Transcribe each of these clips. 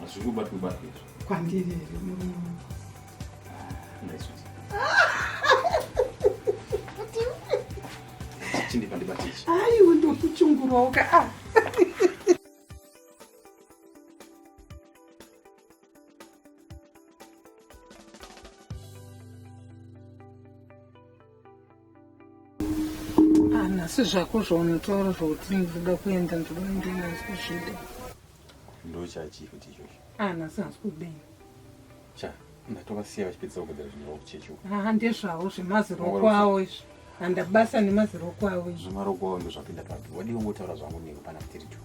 Hazvingobatwe batwe izvo. Kwandiri here murume. Ah, nice sweet. Chindi pandibate ichi. Hayi undokuchungurawo ka. Ah. asi zvako zvaunotaura zvokuti ndoda kuenda ndoda kuenda nhasi kuzvida ndochachii kuti izvozvo ah nhasi nhasi kudei cha ndatovasiya vachipedzisa kugadzira zvinhu zvavo kuchechi uko haa ah, ndezvavo zvemaziroko avo izvi handabasa nemaziroko avo izvi zvemaroko avo ndozvapinda papi wadii ungotaura zvangu niko pana kutiri juu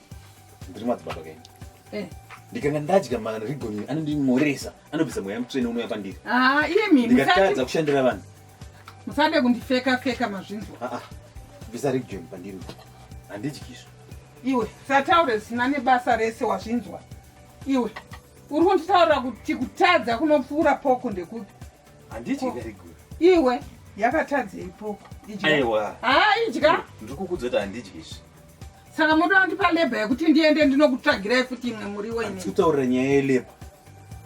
ndiri madzibaba kenyu eh. ndikanga ndadya marigoni anondimoresa anobvisa mweya mutsvene unouya pandiri ah, ndikatadza kushandira vanhu musade kundifeka feka mazvinzwa ah, ah. bvisa rigoni pandiri handidyizvo iwe sataure zvisina nebasa rese wazvinzwa iwe uri kunditaurira kuti kutadza kunopfuura poko ndekuti iwe yakatadzei poko idya ndiri kukuudza kuti handidyi izvi saka moda wandipa labor yekuti ndiende ndinokutsvagirai futi imwe muriwo ini kutaurira nyaya yelabor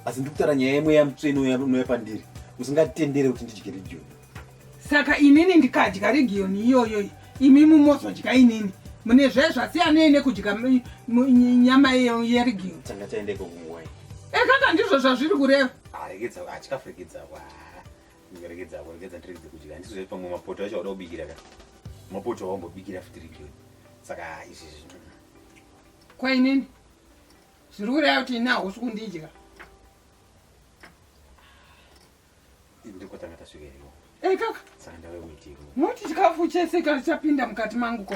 asi ndikutaura nyaya imwe yamutsveni unouya pandiri usingatendere kuti ndidye region saka inini ndikadya region iyoyo imi mumozodya inini mune zve zvasiyanei nekudya nyama yeregion tanga taendeko kunguwai ekaka ndizvo zvazviri kureva arekedza achikafurekedza wa Ngeregedza hapo, regedza ndiregedze kudya. Handisi zve pamwe mapoto acho wada kubikira ka. Mapoto awambobikira fitiri ke. Saka izvi zvinhu. Kwa inini? Zviri kureva kuti ini hausi kundidya. Ndikotanga tasvika iriwo. Eh kaka. Saka ndave kuitiko. Moti chikafu chese kana chapinda mukati mangu ko.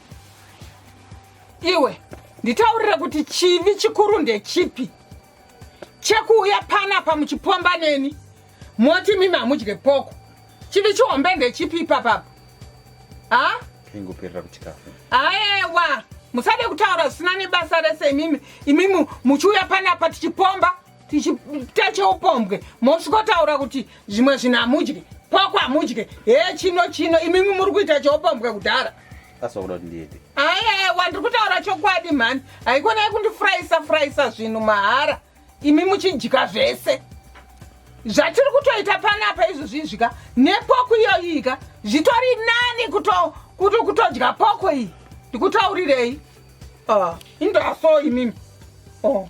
iwe nditaurire kuti chivi chikuru ndechipi chekuuya panapa muchipomba neni moti mimi hamudye poko chivi chihombe ndechipi ipapapa ha ingoperera kuchikafu aewa musade kutaura zvisina nebasa rese imimi imimi muchiuya panapa tichipomba tichiita cheupombwe mosvikotaura kuti zvimwe zvinhu hamudye kwako hamudye he chino chino imimi muri kuita cheupombwe kudhara asakuda kuti ndiite ayewa ndiri kutaura chokwadi mhani haikona yekundifuraisa furaisa zvinhu mahara imi muchidya zvese zvatiri kutoita panapa izvozvizvika nepoko iyoyika zvitori nani kutodya poko iyi ndikutaurirei ah, indaso imimi oh.